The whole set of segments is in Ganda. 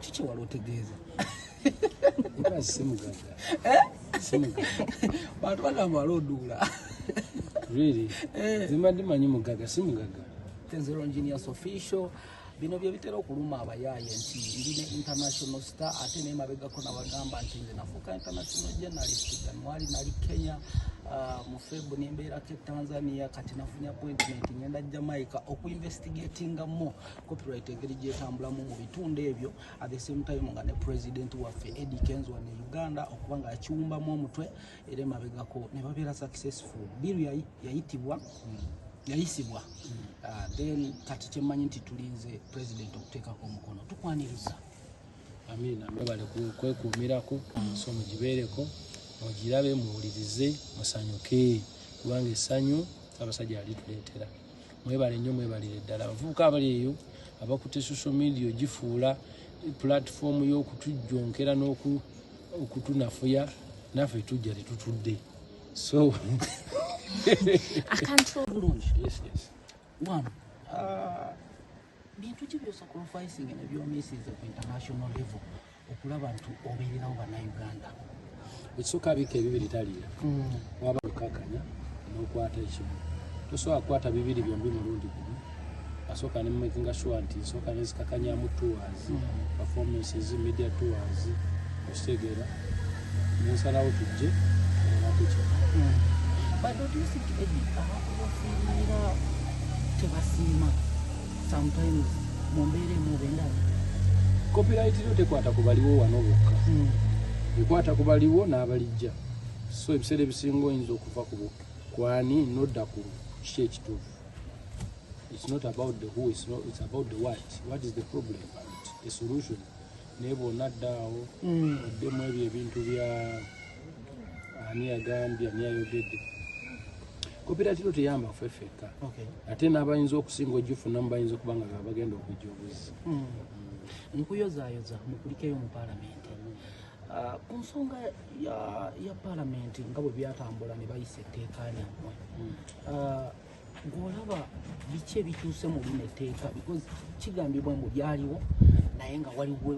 kiki wali otegeeza simugaga eh? bantu bagamba wali oduula eh. zimbadde manyi mugaga si mugaga tenzero engineers official bino byebitera okuluma abayaaye nti ndi ne international star ate naye mabegako nabagamba nti nze nafuuka international journalist januari nali kenya uh, mu febu nembeerako etanzania kati nafunya appointment ngenda jamaica okuinvestigatinga mo copyright engeri gyetambulamu mu bitundu ebyo at the same time nga ne president waffe edi kenzo ne uganda okuba nga akiwumbamu omutwe era emabegako ne babeera successful biru yayitibwa yayisibwa uh, then kati kyemmanyi nti tulinze president okuteekako omukono tukwaniriza amina mwebale kwekuumirako emisomo gibeereko mugirabe muwulirize musanyuke kubanga essanyu abasajja alituleetera mwebale nnyo mwebalire ddala abavubuka abali eyo abakutte social media ogifuula pulatifoomu y'okutujjonkera n'okutunafuya naffe tujja tetutudde so ah. bintu ki byosokola ofisinga nebyomisiza ku international level okulaba nti obeererawo bannayuganda ekisooka abiika ebibiri taliira mm. waba lukakanya n'okwata ekimu tosobola kukwata bibiri byombi mulundi gumu asooka ne mumakinga sure nti nsooka nezikakanyamu tours mm. performances media tours okitegeera nensalawo tujje olabekyo mm. tebasiima sometimes mu mbeera emu oba endala copyright yo tekwata ku baliwo wano bokka hmm. ekwata ku baliwo n'abalijja so ebiseera ebisinga oyinza okuva ku kwani nodda ku kiki ekituufu it's not about the who it's, not, it's about the what what is the problem and a solution naye bwonadda awo hmm. oddemu ebyo ebintu bya ani yagambye ani ayogedde koperative tuyamba ffe ffekka ate n'abayinza okusinga ogifunamu bayinza okuba nga bagenda okujja obuzzi hmm. nkuyozayoza mukulikeyo mu palamenti ah, ku nsonga ya palamenti nga bwe byatambula ne bayisa etteeka lyammwe hmm. ah, ng'olaba biki ebituuse mu lino etteeka because kigambibwa mbu byaliwo naye nga waliwo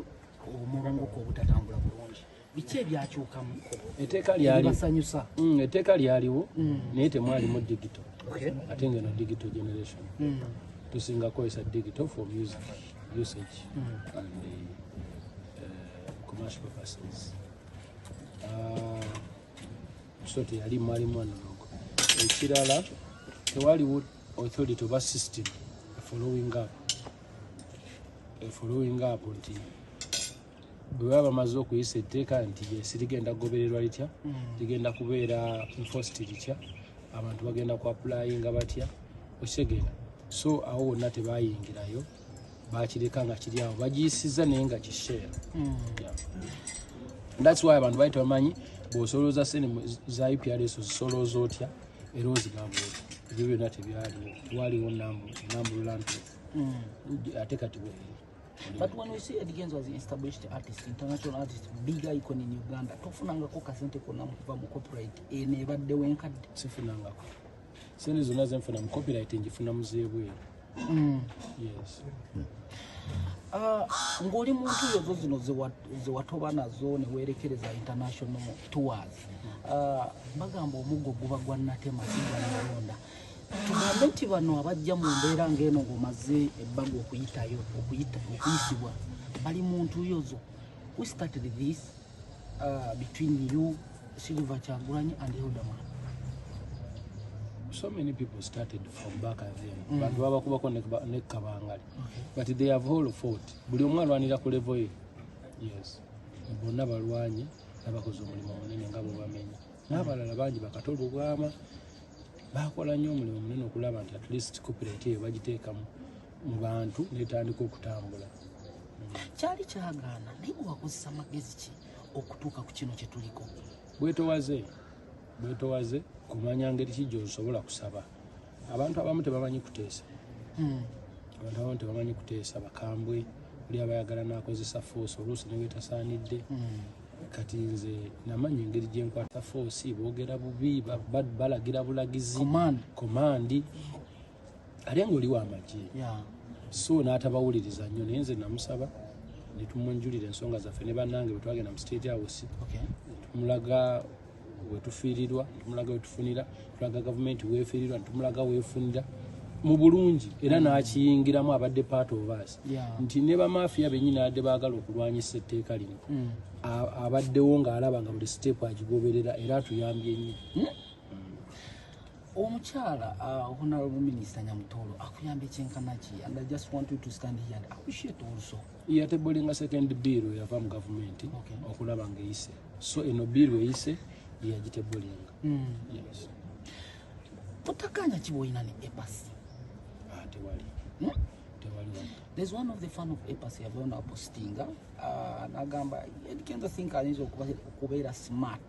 omulongoka obutatambula bulungi biki ebyakyukamu eteeka lyalibasanyusa mm, eteeka lyaliwo mm. naye temwalimu digito ate ngeno digito generation mm. tusinga kozesa digito for music usage and eh, eh, commercial purposes ah, so teyali mwali mwana nogo ekirala tewaliwo authority oba system efollowing up efollowing up nti bwe baba bamaze okuyisa etteeka nti yes ligenda kugobererwa litya mm. ligenda kubeera enforced litya abantu bagenda ku appulayinga batya okitegeera so awo wonna tebayingirayo bakireka nga kiri awo bagiyisiza naye nga kisheera mm. thats why abantu bali tebamanyi bwosolooza sente za uprs ozisolooza otya era ozigamba otya ebyo byonna tebyaliwo waliwo nambulula nti mm. ate kati But when we see Eddy Kenzo as an established artist, international artist, big icon in Uganda, tofunangako kasente kona mukuva mu copyright eno ebadde wenkadde? Sifunangako. Sente zonna ze nfuna mu copyright njifuna muzeebweru. Mm. Yes. Mm. Uh, ng'oli muntu ezo zino zewatoba nazo newerekereza international tours uh, bagamba omuggo guba gwa natema sigwanalonda tugambe nti bano abajja mu mbeera ng'eno ng'omaze ebbaga okuyitayo okuyisibwa bali mu ntuuyo zo we started this uh, between you silver kyagulanyi and elderman so many people started from back and then mm. bantu babakubako nekabangali okay. but they have all fought buli omu alwanira ku levo ye yes bonna balwanye nabakoze omulimu munene nga bwebamenya n'abalala bangi bakata olubwama bakola nnyo omulimu munene okulaba nti at least copyright eyo bagiteekamu mu bantu netandika okutambula kyali kyagaana naye gwewakozesa magezi ki okutuuka ku kino kyetuliko bwetowaze bwetowaze kumanya ngeri ki gyosobola kusaba abantu abamu tebamanyi kuteesa hmm. abantu abamu tebamanyi kuteesa bakambwe oli abayagala nakozesa force oluusi newetasaanidde hmm. kati nze namanya engeri gyenkwata foosi boogera bubi balagira bulagizi komandi ate ngaoliwo amagye so n'atabawuliriza nnyo naye nze namusaba netumunjulira ensonga zaffe ne bannange bwetwagenda mu state house tumulaga wetufiirirwa tumulaga wetufunira tulaga gavumenti wefiirirwa tumulaga wefunira mu bulungi era n'akiyingiramu abadde part of us nti ne bamafiya bennyini abadde baagala okulwanyisa etteeka lino mm. abaddewo ng'alaba nga buli siteepu agigoberera era atuyambye nnyo hmm? omukyala uh, honorable minister nyamutolo akuyamba ekyenkanaki and i just want you to stand here and appreciate also yatebolinga second bill yava mu gavumenti okay. okulaba nga eyise so eno bill eyise yeyagitebolinga mm. yes. otakanya kiboyina ne epasi ah, tewali hmm? tewali there's one of the fan of epasi yavaona apostinga uh, nagamba edikenza think ayinza okubeera smart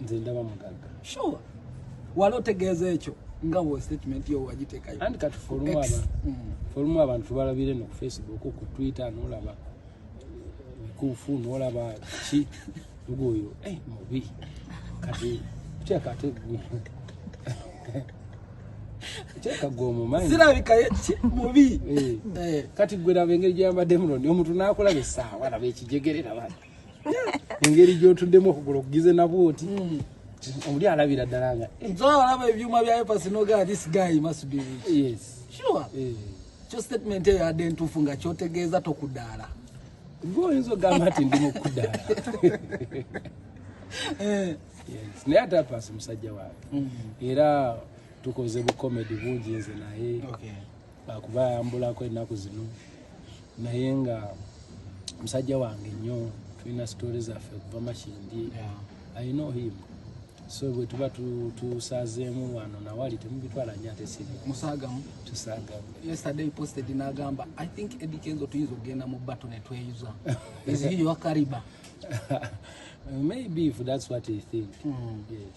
nze ndaba mugagga sure wali otegeeza ekyo nga wo statement yo wagitekayo and kati forum abantu mm. forum abantu balabire no facebook ku twitter no laba kufu no laba chi ngoyo eh mubi kati kya kati gwe Cheka gwo mu mind. Sira bika yechi mubi. Eh. eh. Kati gwe na bengeri jamba demron. Omuntu nakola be sawa na be kijegerera bana. engeri gyotuddemu okugula okugize nabwo oti hmm. omuli alabira ddala nga eh. olaba ebyuma byayo pasinoga this guy must be rich yes sure eh. kyo statement eyo yadde ntuufu nga kyotegeeza tokudaala gwe oyinza ogamba nti ndi mukudaala eh. naye ate apaasi musajja wange hmm. era tukoze bukomedi bungi nze naye akuba ayambulako ennaku zino naye nga musajja wange nnyo tulina sitoole zaffe okuva makindi alina ohimu so bwe tuba tusazeemu wano nawali temubitwala nyo ate sirimusagamu tusagamu yesterday posted nagamba i think edikenzo tuyinza okugenda mu bato netweyuza is he your cariba maybe if that's what he think mm. yes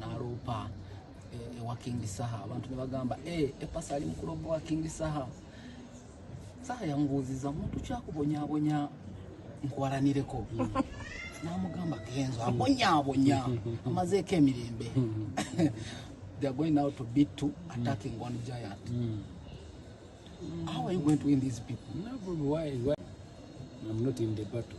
naloopa eh, ewa king saha abantu nebagamba eh, epasa ali mukuloopa wa king saha saha yambuuziza muntu kyakubonyabonya nkwalanireko hmm. namugamba kenzo abonyabonya hmm. amazeeko emirembe they are going now to beat to attacking mm. one giant. Mm. Mm. How are you going to win these people? No, why, why? I'm not in the battle.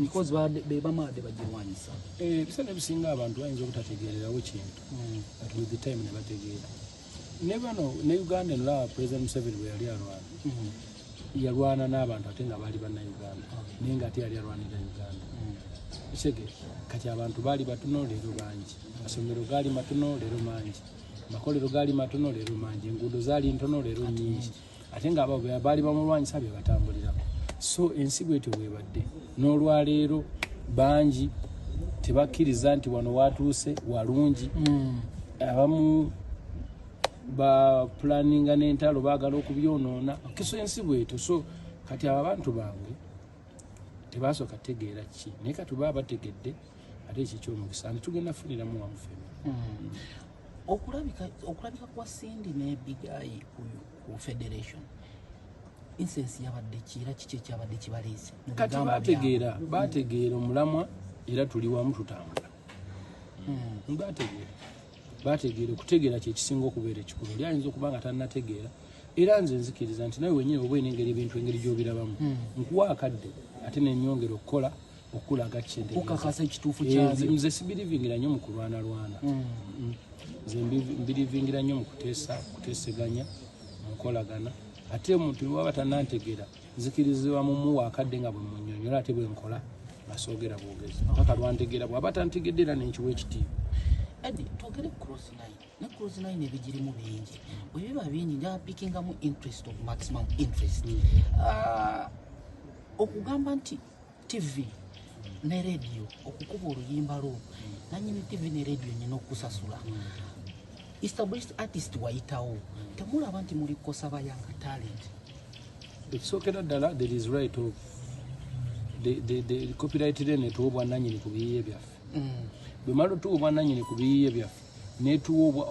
because bebamaade bagirwanyisa eh, ebiseera ebisinga abantu bayinza obutategeererawo kintu hmm. but with the time nebategeera ne bano ne uganda enolaba president museveni bwe yali alwana hmm. yalwana n'abantu ate nga baali bannauganda naye nga ate yali alwanira uganda kisege hmm. kati abantu baali batono leero bangi amasomero gaali matono leero mangi amakolero gaali matono leero mangi enguudo zaali ntono leero nyingi ate nga abo baali bamulwanyisa be batambulirako so ensi bwetyo bwebadde n'olwaleero bangi tebakkiriza nti wano watuuse walungi hmm. abamu bapulaninga n'entalo baagala okubyonoona kiso ensi bwetyo so kati abo abantu bange tebasooka tegeera ki naye katuba abategedde ate ekyo kyomukisa nti tugenda funiramu wamufemu hmm. okulabika okulabika kwa Cindy ne Big Eye ku federation insensi yabadde ki era kiki ekyabadde kibaleese kati bategeera bategeera omulamwa era tuli wamu tutambula hmm. bategeera bategeera okutegeera kyekisinga okubeera ekikulu oli ayinza okuba nga tanategeera era nze nzikiriza nti nawe wenyini oba enengeri ebintu engeri gyobirabamu hmm. nkuwa akadde ate nenyongera okukola okulaga kukakasa ekituufu eh, kyabyo nze sibirivingira nnyo mu kulwana lwana hmm. hmm. nze mbirivingira nnyo mu kuteesa kuteeseganya mu nkolagana ate omuntu waba tanantegeera nzikirizibwa mu muwa akadde nga bwe munyonyola ate bwe nkola ngasoogera bwogezi mpaka lwantegeera bwaba tantegedde era nenkiwa ekitiibwa adi twogere ku cross line ne cross line ebigirimu bingi bwe biba bingi nga pickingamu interest of maximum interest hmm. ah, okugamba nti ttivi ne rediyo okukuba oluyimba lwo nanyini ttivi ne rediyo nyina okusasula established artist wayitawo temulaba nti muli kukosa bayanga talent ekisookera ddala there is right of copyright lene tuwa obwananyini ku biyiye byaffe mm. bwemala otuwa obwananyini ku biyiye byaffe netuwa obwa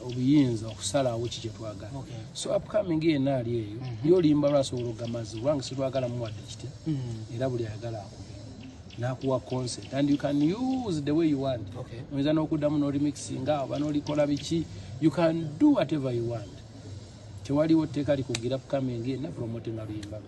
obuyinza okusalawo ki kyetwagala so upcoming yena ali eyo mhm. yolimba lwasobola ogamazi kubanga sitwagala muwadde kitya mhm. era buli ayagala akube nakuwa concert and you can use the way you want oyinza nokuddamu norimixinga oba nolikola biki you can do whatever you want tewaliwo tteeka likugira upcoming yena promotinga luyimba lwe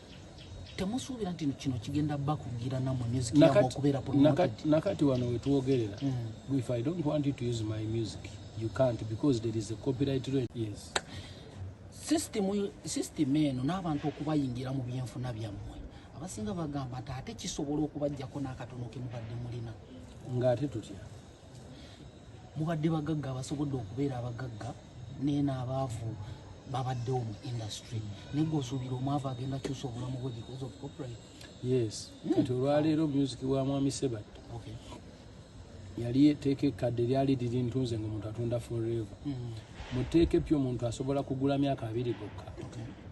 temusuubira nti kino kigenda bakugira namwe music yamwe okubeera promoted nakati wano wetwogerera mm. if i don't want you to use my music you can't because there is a copyright rate yes system system eno n'abantu okubayingira mu byenfuna byammwe abasinga bagamba nti ate kisobola okubajjako n'akatono kemubadde mulina ng'ate tutya mubadde bagagga abasobodde okubeera abagagga naye n'abaavu babaddewo mu industry naye gweosuubira omwavu agenda kyusa obulamu bwe because of copyright yes hmm. kati olwaleero music wa mwami sebat yali eteeka ekkadde lyali liri ntunze nga omuntu atunda forever hmm. mu tteeka epya omuntu asobola kugula myaka abiri gokka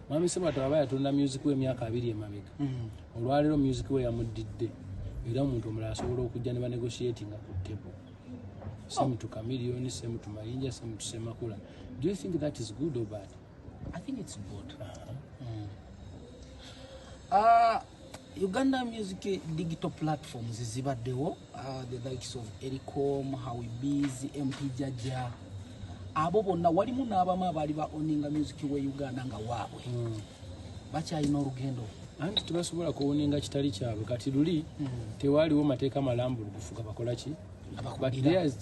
mwami sebat aba yatunda music w'emyaka abiri emabega hmm. olwaleero music we yamuddidde era omuntu omulala asobola okujja ne banegotiatinga ku table same oh. to chameleon same to mayinja same to semakula do you think that is good or bad i think it's good uh -huh. mm. uh, uganda music digital platforms zibaddewo uh, the likes of ericom howbs mp jaja abo bonna walimu n'abamu abaali ba oninga music we uganda nga waabwe mm. bakyalina olugendo anti tebasobola kuwoninga kitali kyabwe kati luli hmm. tewaaliwo mateeka malambulukufu gabakola ki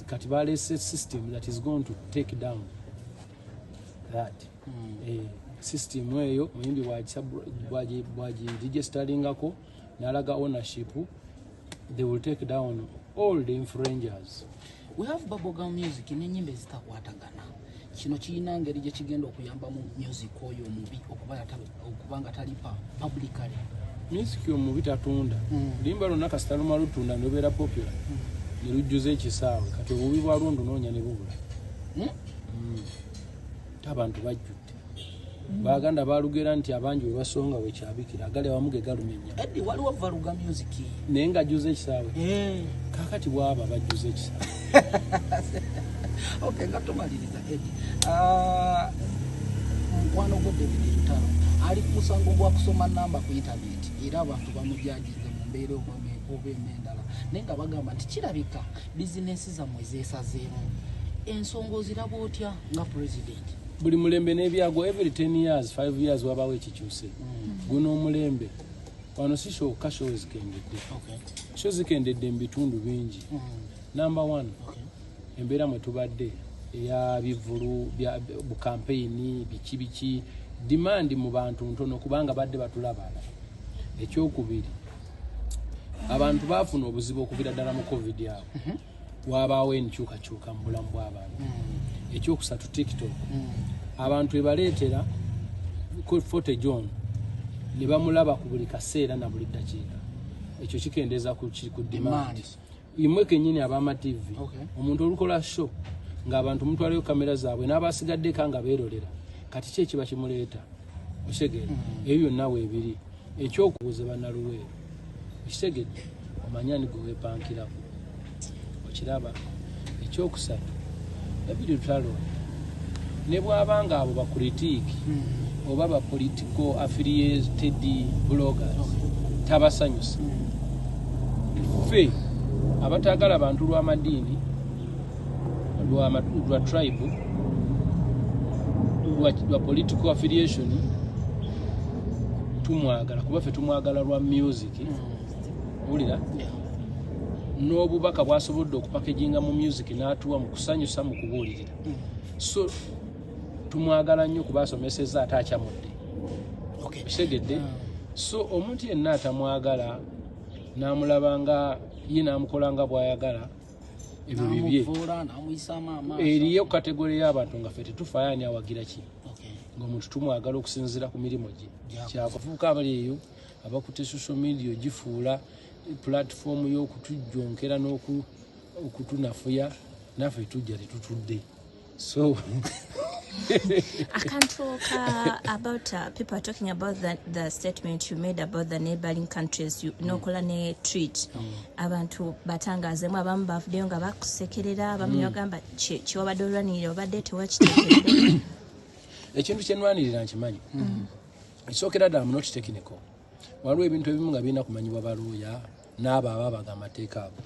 kati balese system that is going to take down that hmm. eh, system eyo muyimbi bwagidigestalingako nalaga ownership they will take down all the infringers we have bubblegum music nenyimba ezitakwatagana kino kirina ngeri gye kigenda okuyambamu music oyo omubi okuba nga talipa publicly music omubi tatunda mm. limba lwonna kasita luma lutunda nobeera popular mm. ne lujjuza ekisaawe kati obubi bwalwo ndunoonya ne bubula hmm? Hmm. abantu bajjudde baganda balugera nti abangi webasonga wekyabikira agali awamu ge galumenya naye nga juza ekisaawe eh. kakati bwaba bajuza ekisaawe ah, mukwano gwo david lutalo ali ku musango gwa kusoma namba ku intaneti era abantu bamujajize mu mbeera oba emendala naye nga bagamba nti kirabika bizinesi zammwe zesazeemu ensonga oziraba otya nga pulezidenti buli mulembe nebyagwa every 10 years 5 years wabawo ekikyuse mm. guno omulembe wano si kyoka sho zikendedde sho zikendedde mu bitundu bingi mm. number one embeera mwe tubadde eya bivulu bu kampeyini biki biki dimandi mu bantu ntono kubanga badde batulabala ekyokubiri abantu baafuna obuzibu okuvira ddala mu covid awo mhm. wabaawo enkyukakyuka mu bulamu bw'abantu mm. ekyokusatu tiktok mm. abantu ebaleetera fote john ne bamulaba ku buli kaseera na buli ddakiika ekyo kikendeeza ku demand imwe kenyini abama tv omuntu olukola show ng'abantu mutwalayo kamera zaabwe n'abasigaddeko nga beerolera kati ki ekiba kimuleeta okitegedde mm. ebyo byonna weebiri ekyokubuuza banaluweero okitegedde omanyani gwe weepankirako okiraba ekyokusatu ebiri lutalo ne bwaba nga abo bakuritiiki mm. oba bapolitiko affiliated bloggers tabasanyusa mm. ffe abatagala bantu lw'amadiini lwa tribe lwa political affiliation tumwagala kuba ffe tumwagala lwa music wulira n'obubaka bwasobodde okupakeginga mu music n'atuwa mu kusanyusa mu kubuulirira so tumwagala nnyo kuba asomeseza ate akyamudde kitegedde so omuntu yenna atamwagala n'amulaba nga ye n'amukola nga bw'ayagala ebyo bibye eriyo kategore y'abantu nga fe tetufaayo ani awagira ki ngaomuntu tumwagala okusinzira ku mirimu gye kyakufuuka abali eyo abakutte social media ogifuula pulatifoomu y'okutujjonkera n'okutunafuya naffe tujja tetutudde so I can't talk uh, about uh, people are talking about the, the statement you made about the neighboring countries you mm. nokola ne treat mm. abantu batangazemu abamu bavudeyo nga bakusekerera abamu mm. yogamba kiwabadde olwanirira obadde tewakitekerere ekintu kyenwanirira nkimanyi mm. ekisookera ddala munokitekinico waliwo ebintu ebimu nga birina kumanyibwa baluuya n'abo ababaga amateeka ago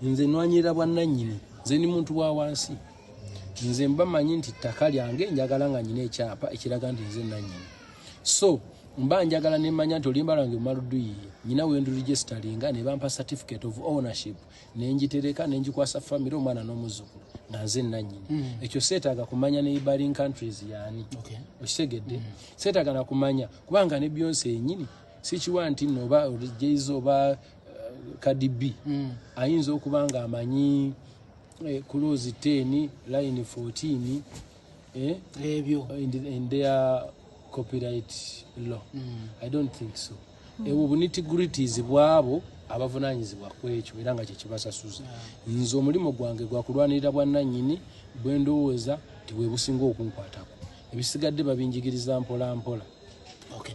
nze nwanyirira bwannannyini nze ndi muntu wa wansi nze mba manyi nti ttaka lyange njagala nga nyina ekyapa ekiraga nti nze nannyini so mba njagala nemanya nti oluyimba lwange lumaluduyiye nyina wenduligesitalinga ne bampa certificate of ownership nenjitereka nenjikwasa famire omwana n'omuzzukulu nga nze nannyini hmm. ekyo seetaaga kumanya ne ibaring countries yaani okitegedde hmm. seetaaga nakumanya kubanga ne byonsi yenyini sikiwa nti no oba jz oba kdb eh, mm. ayinza okuba nga amanyi eh, kulozi 10 line 14 eh, ebyo in their copyright law mm. i don't think so mm. ebwo bunitigritis bwabo abavunanyizibwa kwekyo era nga kyekibasasuza nze omulimu gwange gwakulwanirira bwananyini bwendowooza tiwebusinga okunkwatako ebisigadde babinjigiriza mpola mpola okay.